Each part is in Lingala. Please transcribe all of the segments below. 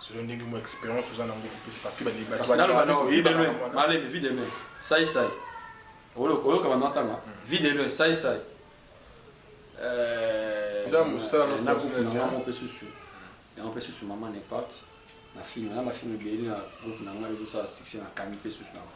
selon ndenge mwa expérience oza nango kopesa parce que bale bato Kasi naloba nao vie de loin malemi vie de loin sai sai Olo- oyoka banda natanga vie de loin sai sai Euh, Eza mosala na na groupe personnel, na hein. ngai mpe susu yango mpe susu mama nepart na film na bafilm ebele na groupe na ngai ezosala succès na kami mpe susu na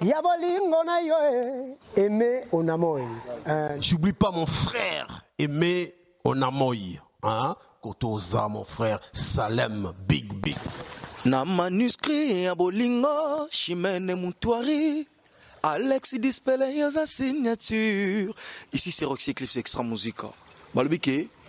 Ya bolingo na yo eh, aime onamoy. Eh. J'oublie pas mon frère aime onamoy. Hein? Kotoza mon frère Salem Big Big. Na manuscrit ya bolingo Chimene Mutuari Alex Dispele yoza signature. Ici c'est Roxy Clips Extra Musica. Balobi ke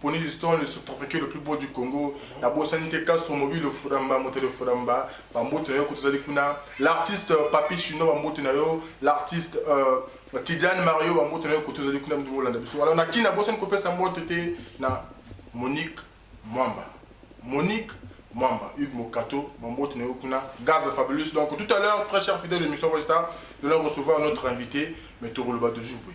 Pony Liston le sous-prefecture le plus beau du Congo nabosani te Castro Mobilo Furamba moto de Furamba bambote na yo kutu ozali kuna l'artiste Papi Chinois bambote na yo l'artiste euh, Tidiane Mario bambote na yo kutu ozali kuna mtu olanda biso alors na kin nabosani kopesa mbote te na Monique Mwamba Monique Mwamba, Hugues Mokato, Mambo Tineokuna, Gaz Fabulous. Donc tout à l'heure, très cher fidèle de Mission Westa, nous allons recevoir notre invité, M. Roloba de Jouboué.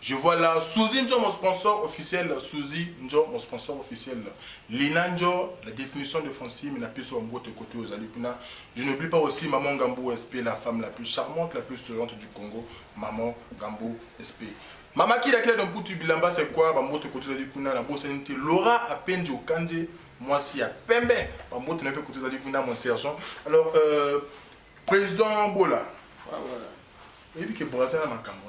Je vois là Souzy njo mon sponsor officiel Souzy njo mon sponsor officiel Lina njo la definition de Francine na pesi yo mbote kote oyo ozali kuna Je n'oublie pas aussi maman Gambu SP la femme la plus charmante la plus souriante du Congo maman Gambu SP Mama kila kila de mputu bilamba c'est quoi ba mbote kote ozali kuna na bosani te Laura Apenji Okanje mwasi ya pembe ba mbote na pe kote ozali kuna mon sergent alors euh, président Bola ah, voilà. oyebi ke Brazza na makambo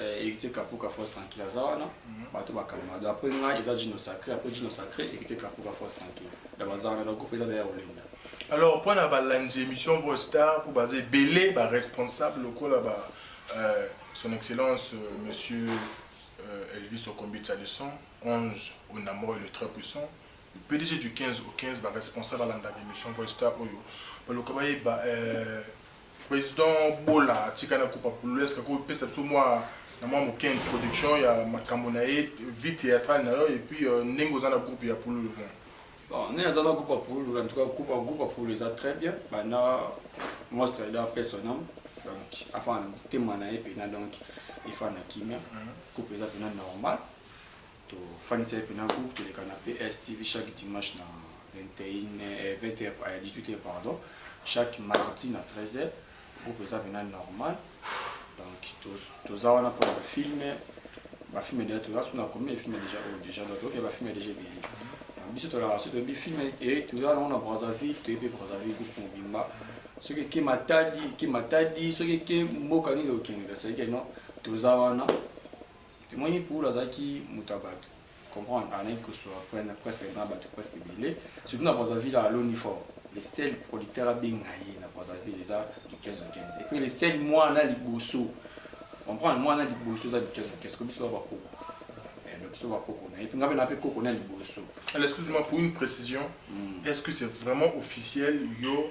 Eh, héritier kapuka force tranquille aza wana bato bakalma do après ngai eza jino sacré après jino sacré héritier kapuka force tranquille da baza wana donc groupe eza na ya olinda alors mpo na balandi émission bo star mpo baza ebele baresponsable lokola ba euh, son excellence euh, monsieur euh, elvis okombitsa le 111 onamoi le très puissant le pdg du 15 au 15 baresponsable alandaka émission bo star oyo baluka bayeba euh, President Bola atika na kupa pululesk ko pesa biso mwa na mwa moke introduction ya makambo na ye vie theatrale na yo et puis euh, ndenge oza na groupe ya pululu bon bon ne aza na groupe ya pululu en tout cas groupe groupe ya pululu eza très bien banda monstre eda pesa nam donc afana motema na ye mpena donc efana kimia mhm. groupe eza mpena normal To fanisa ye pena groupe toleka na PS TV chaque dimanche na 21 20 heures à 18 heures pardon chaque mardi na 13 heures groupe eza pena normal donc toza wana mpo na bafilme bafilme deja toza so na combien de filme déjà oyo déjà donc toke bafilme déjà ebele biso tolaka so toyebi filme e toza nango na brazzaville toyebi brazzaville groupe mobimba soki eke matadi eke matadi soki eke mboka nini okendeka seke non toza wana Tomoni Paulo azalaki moto ya bato, comprendre anaki kosua prene presque na bato presque ebele, surtout na Brazzaville aloni fort. Le seul producteur abenga ye na Brazzaville eza Duquesne Duquesne. Et puis le seul mwana liboso, comprendre mwana liboso eza Duquesne Duquesne, ko biso ba koko. Eh, donc biso ba koko na ye, puis nga pe na pe koko na liboso. Alors, excuse-moi pour une précision. Mm. Est-ce que c'est vraiment officiel yo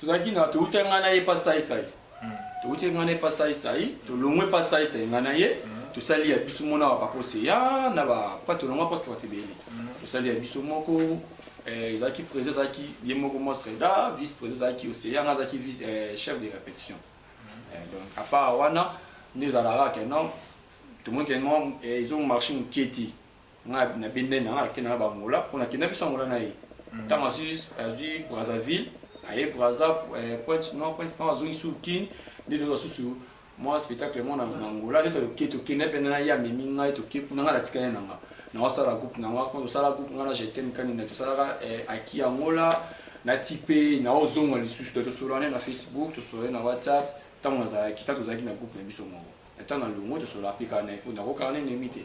tozalaki na towutaki ngai na ye pa saisai hmm. towutaki ngai na ye pa saisai tolongwe pa saisai ngai na ye hmm. tosali ya biso mona wa papa oseya na bapa tolongwa paske bato ebele hmm. tosali ya biso moko eh, ezalaki président ezalaki ye moko mostreda vice président ezalaki oseya ngai azalaki eh, chef de répétition eh, donc à part wana nde ezalaka ke non tomonike ezo marché moke te nga na bende na nga nakenda na bangola mpo nakenda biso angola na ye ntango hmm. azwi azwi brazzaville aye brazza eh, pointe non pointe ntango azongi sur kin nde toza susu mwa spectacle mwana na angola nde toke tokenda mpe na ye amemi ngai toke kuna ngai natikali na nga na osala groupe na nga kuna tosala groupe ngai na jetem kanina tosalaka eh, aki angola na tipe na ozonga lisusu tosolane na facebook tosolane na whatsapp ntango nazalaki ntango tozalaki na groupe na biso moko Attends, na longo, tu sola pika na epona ko karne ne mite.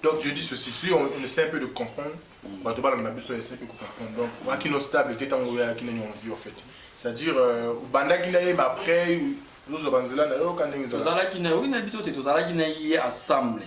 Donc je dis ceci, si on, on essaie un peu de comprendre, mm. bato bala na biso essaie de comprendre. Donc mm. waki no stable te tango ya kine ni envie en fait. C'est-à-dire euh, bandaki na ye mais après nous obanzela na yo kande ngeza. Tozalaki na yo na biso te tozalaki na ye assemblée.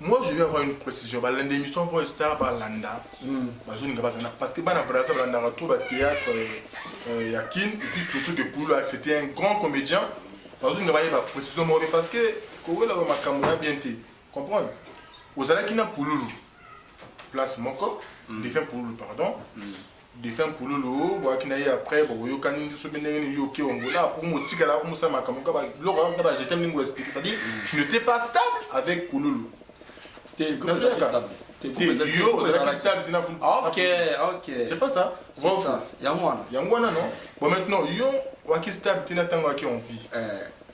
Moi je veux avoir une precision ba landa emission voix star ba landa ba zone nga bazana parce que bana Brazza ba landa trop ba théâtre euh, ya Kin et puis surtout que Pululu a c'était un grand comédien ba zone nga ba yeba precision moko parce que kowela ba makambo na bien te comprendre ozalaki na Pululu place moko mm. défunt Pululu pardon mm. Defunt pululu boyaki na ye après bokoyokani te soki ndenge nini yo oke ongola pour motikala ko mosala makambo ka ba biloko kaka ba jetem ndenge expliquer ça dit tu n'étais pas stable avec pululu te nazalaka te yo ozalaki stable te na OK OK c'est pas ça c'est ça yango wana yango wana non bon maintenant yo waki stable te na tango waki en vie eh.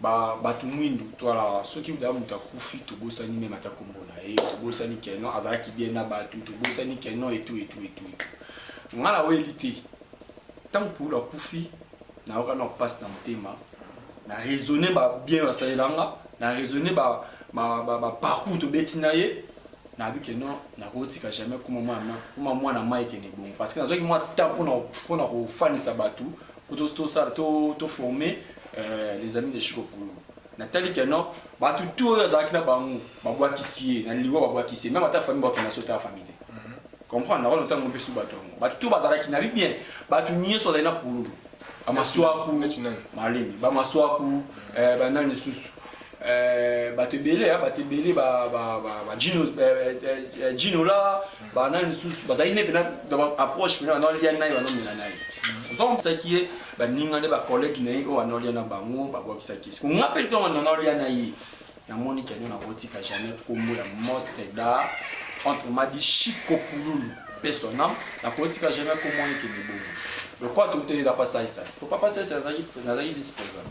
ba bato mwindu to ala soki daa moto akufi tobosani meme ata kombo na ye tobosani keno azalaki bien na bato tobosani keno etu etu etu nga na oyeli te ntango pulu akufi nayoka na mpasi na motema na raisonne ba bien basalela nga na raisonne ba baparcours tobeti na ye nayebi ke non nakotika jamais kuma mwana mai kende bongo parce que nazwaki mwa temps mpona kofanisa bato Kutu to sala to to former euh, les amis de Chico Pulu. Natali que non, bato tout oyo azalaki na bango babwakisi ye na liwa babwakisi ye meme ata famille bato na sota famille te. Mhm. Comprendre na wana ntango mpe su bato yango bato tout bazalaki na bien bato nyonso azali na pululu bamaswaku malemi bamaswaku eh, banani lisusu Euh, bato ebele bato ebele bajinola banani lisusu bazali nde mpena approche mpena bana olia naye banomela naye ozokisaki ye baninga nde bacollege na ye oyo bana olia na bango babwakisaki ye sikonga mpe ntongo nana olia na ye namoni kani nakotika jamais nkombo ya mostre da entre madi chiko pululu mpe sonam nakotika jamais nkombo ekende bongo lokola touteyela pasaisa po papasaisa nazalaki vice président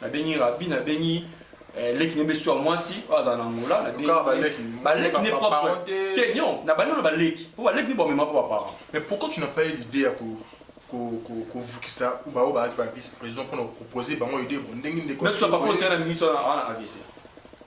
nabengi rabi nabengi eh, leki ne besu ya mwasi oyo azala na angola baleki ne propre non na bandolo baleki mpo baleki ne bamema mpo baparent mais pourquoi tu n'as pas eu l'idée ya ko kovukisa baoyo baaki ba vice président mpona kopropose bango idée bo ndenge ndeko papa osala na minute wana avc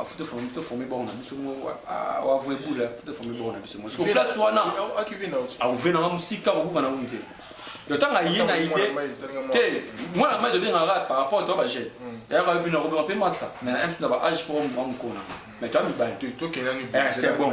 afuta ah, forme to forme bango na biso moko awavua ah, ebula afuta forme bango na biso moko siko place wana auve nanga mosika kobuka na ngunte yotanga ye na ide te mwana mai tobengaka kaka par rapport to bagene yayaka yo bino akobema mpe master mais na mpe na ba age mpo mwa mokona mais toya mibali te c'est bon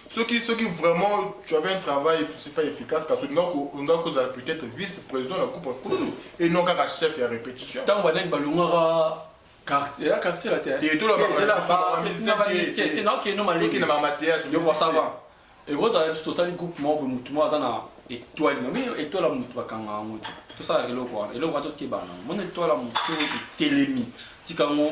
soki soki vraiment tu avais un travail c'est pas efficace kasi olingaki kozala peut-être vice président na groupe kululu et non kaka chef ya répétition ntango banani balongaka quartier ya quartier la te te to la ba te na keno maleki na mama te yo kwa sava et vous avez tout ça les groupes membres mutu mo azana étoile mais étoile mutu bakanga yango te to ça eloko wana eloko wana to kebana mon étoile mutu telemi tikango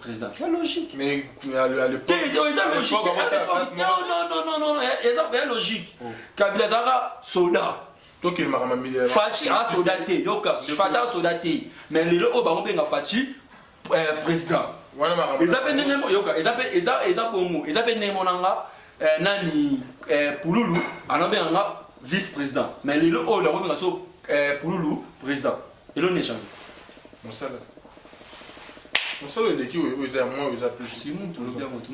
président tu as logique mais à l'époque eza logique non non non non eza ya logique kabila azalaka soda tokendaka mamiliare faci a soda te yoka faci a soda te mais lelo oyo bango benga faci président eza mpe ndenge yoka eza mpe eza bongo eza mpe ndenge monanga nani pululu anabenga nga vice président mais lelo oyo nakobenga so pululu président Eloni ya change. Mosala. Mosala eleki oyo eza ya mwa oyo eza plus. Simo tolobi yango tu.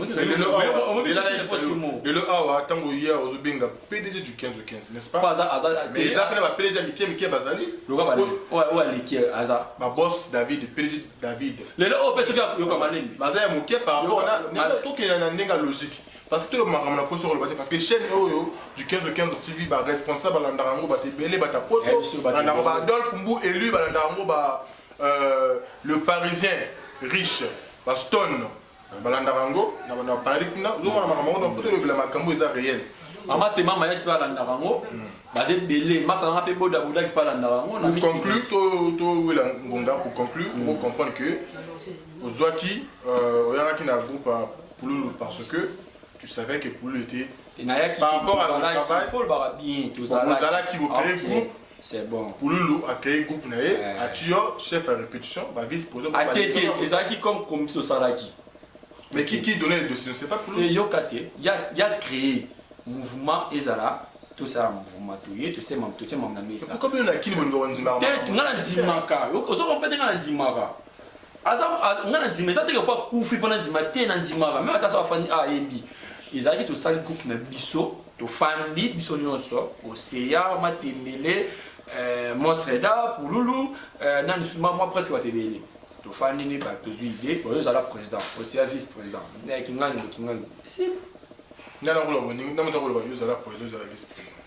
Lelo awa ntango ye ozobenga PDG du 15 au 15 n'est-ce pas? Aza aza mais eza pena ba PDG ya mike mike bazali. Loka ba oyo aleki aza. Ba boss David PDG David. Lelo oyo pe soki yoka manemi. Baza ya moke par rapport na tokenda na ndenge ya logique. Parce que tout le makambo na poso koloba te parce que chaîne oyo du 15 au 15 TV ba responsable balandaka yango bato ebele bata poto balandaka ba Adolphe Mbu élu balandaka yango ba euh, le parisien riche ba Stone balandaka yango na banda parali kuna ozomona makambo yango na poto elobela makambo eza réel mama se mama yasi mpe alandaka yango baza ebele masa nanga mpe bodabodaki mpe alandaka yango na conclu towela ngonga pour conclure okomprendre que ozwaki oyangaki na groupe Pululu parce que tu savais que Pululu était te nayaki par rapport à le travail faut lobaka bien tozalaki bokeye groupe c'est bon Pululu a créé groupe na ye eh. atio chef à répétition ba vice poso ba atete ezalaki comme comme tosalaki mais qui qui donnait le dossier c'est pas Pululu te yoka te ya ya créé mouvement ezala tosala mouvement toye totie mambo na mesa te nga na ndimaka ozokompe te nga na ndimaka aza nga na ndima eza teke mpo akufi mpo na ndima te na ndimaka meme ata so afandi ah, ayebi ezalaki tosali groupe na biso tofandi biso nyonso oseya matembele euh, monstre da pululu euh, na misuma mwa presque bato ebele tofandi ni bato tozwi ide oyo ozala président oseya vice président eh, kingani kingani si nga nakoloba boningi ntango nakoloba yo ozala président ozala vice président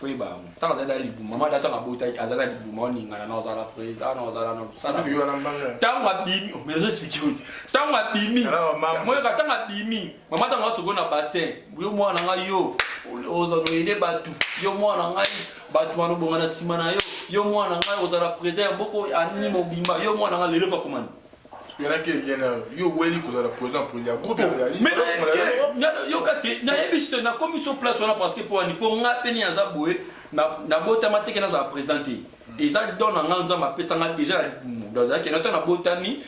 faut yeba yango ntango azali na libuma mada ntango abotaki azali na libuma oningana na ozala président na ozala na mosala ntango abimi oh, mais expliqué oti ntango abimi moyoka ntango abimi mama ntango asoko na bassin yo mwana na ngai yo ozoyede bato yo mwana na ngai bato wana obonga na nsima na yo yo mwana na ngai ozala président ya mboko anini mobimba yo mwana na ngai lelo pakoma nini nayebisi te nakomi so place wana parce que mpo wani mpo nga mpe nini aza boye nabotama teke nazala président te eza don na nga nzambe apesa nga déjà na libumu donc ezalaki nata nabotami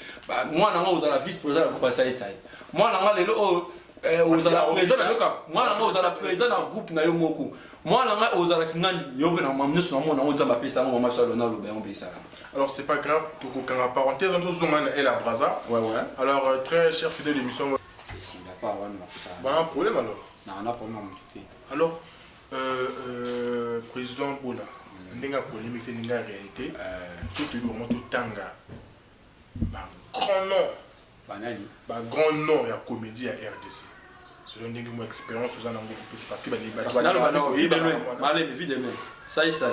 mwana nga ozala vice président na groupe asaisai mwana nga lelo oyo eh, ozala président na yoka mwana nga ozala président na groupe na yo moko mwana nga ozalaki nga yo mpe na mama nyonso namona yango nzambe apesa yango mama biso alona aloba yango mpe esalama Alors c'est pas grave, tokokanga parenthèse wana tozonga na Ella Braza. Ouais ouais. Alors euh, très cher fidèle émission. C'est la part wana na fata. Ba un problème alors. Na na problème mon petit. Alors euh, euh, président Bola mm. ndenge polémique ndenge réalité. Euh... Surtout le moment tanga. Ba grand nom. Ba nani? Ba grand nom ya comédie ya RDC. selon ndenge mo expérience oza nango kopesa parce que balemi vide mai sai sai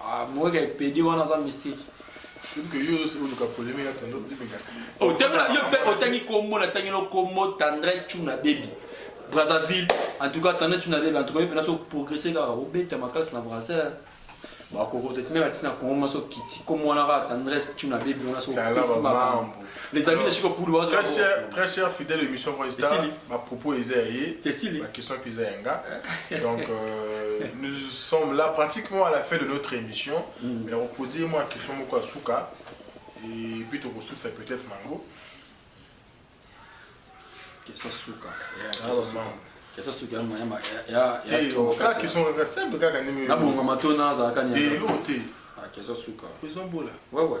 Ah, moi qui pedi wana aza mystique. otangi kombo natangi no kombo tandre chuna bebi brazzaville en tout cas tandre chuna bebi en tout cas mpena so progresse kaka obeta makasi na brasseur bakokota ti meme atina kongo maso kiti kombo wana kaka tandres chuna bebi wana so opesi makambo Les amis de Chico Poulou, très cher, très cher fidèle émission Voice Star, ma propos est aillée, ma question est aillée nga. Donc euh, nous sommes là pratiquement à la fin de notre émission. Mm. Mais on posait moi une question moko asuka et puis tu ressources c'est peut-être mango. Question suka. Ah, eza soki ya mayama yayakaka question kaka simple kaka ndenge nabongama to nazalaka nyelo te eza suka eza bola wewe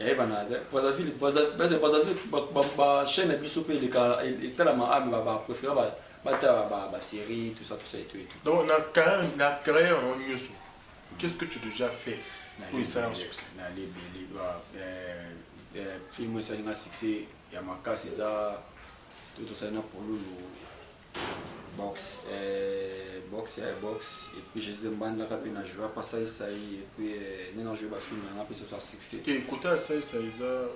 eyebana te brazzaville base brazzaville bachaine na biso mpe eleka etalama ame bapréféré batala basérie tout ça tout ça etu etu donc na carrière yango nyonso qu'est ce que tu déjà fait oyo esala na succès na lebele film esali na succès ya makasi eza to tosali na polulu boxe eh, boxe ya boxe et puis Jésus de Mbanda kapi na joie pas ça ça et puis eh, ni na joie ba film na pe ça succès et côté ça ça eza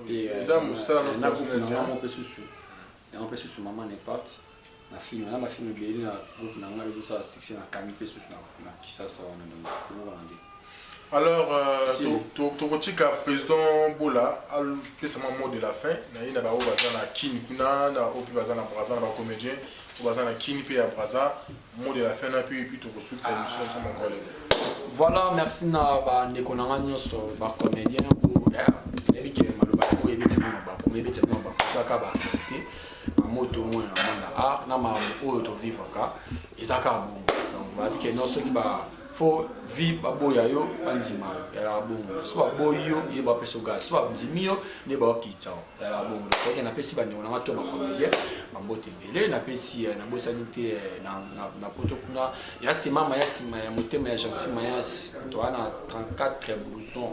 eza eh, musala na groupe na ngamo pe susu na pe susu maman n'est pas na film na ba film ebele na groupe na ngamo pe ça succès na kami pe susu na na kisasa wana na ko wana Alors tokotika president Bola apesa mwa mot de la fin na ye na baoyo baza na Kin kuna na oyo mpe baza na Brazza na ba comedien oyo baza na Kin mpe ya Brazza mot de la fin na mpe epuis tokosukisa emission biso moko lelo. Voilà, merci na ba ndeko na nga nyonso ba comedien nayebi ke maloba yango ebeti mpo na bakomi ebeti mpo na bakozaka ba te na moto omoi na monde art na makambo oyo tovivaka eza kaka bongo donc bayebi ke non soki ba faut vie baboya yo bandima yo yalaka bongo so baboyi yo ye bapesa ogal so bandimi yo nde baokitisa yo yalaka bongo soki napesi bandeko na nga to bacomédien bambote ebele napesi eh, nabosani te eh, na poto kuna ya simama ya nsima ya motema ya jansi mayasi toa na 34 blouson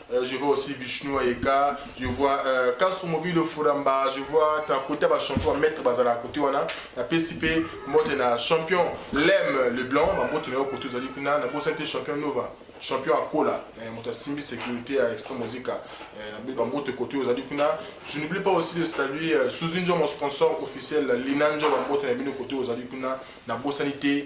Euh, je vois aussi Vishnu Ayeka, je vois euh, Castro Mobile Furamba, je vois ta côté ba champion maître bazala côté wana na PCP mode na champion Lem le blanc ba mbote na yo côté zali kuna na bosa te champion Nova champion akola eh, moto asimbi sécurité ya extra musica eh, ba mbote côté ozali kuna je n'oublie pas aussi de saluer euh, Suzy Njo mon sponsor officiel Lina Njo ba mbote na bino côté ozali kuna na bosani te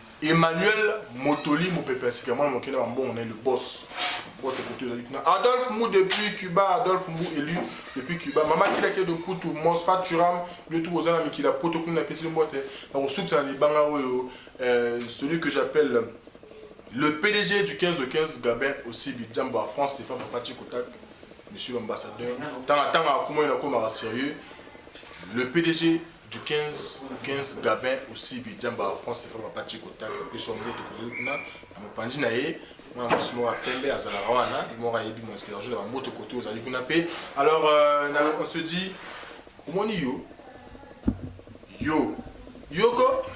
Emmanuel Motoli, mopepe ya sika, mwana moke na bambongo na ye, le boss. Bote koto ezali kuna. Adolphe Mbu depuis Cuba, Adolphe Mbu élu depuis Cuba. Mama kila kila de Kutu, Mos Faturam, yo tout boza na mikili ya poto kuna pesi mbote. Na kosukisa na libanga oyo euh, celui que j'appelle le PDG du 15 au 15 Gabin aussi Bidjambo à France, c'est Fabien Pachi Kotak, monsieur l'ambassadeur. Tanga tanga afumo na koma sérieux. Le PDG Du 15 au 15 Gabin Osibi Diamba wa France Sefa Papa Chico Tang apesi yo mbote kozali kuna na mopanzi na ye mwana mwasi moko ya pembe azalaka wana ye moko ayebi mon Serge na bambote kote ozali kuna mpe alors euh, na- on se dit omoni yo yo yoko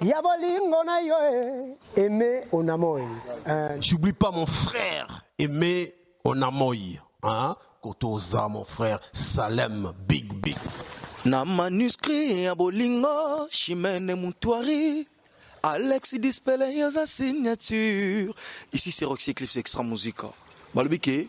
Ya bolingo na yo eh, aime onamoy. Eh. J'oublie pas mon frère aime onamoy. Hein? Kotoza mon frère Salem Big Big. Na manuscrit ya bolingo Chimene Mutuari Alex Dispele yoza signature. Ici c'est Roxy Clips Extra Musica. Balobi ke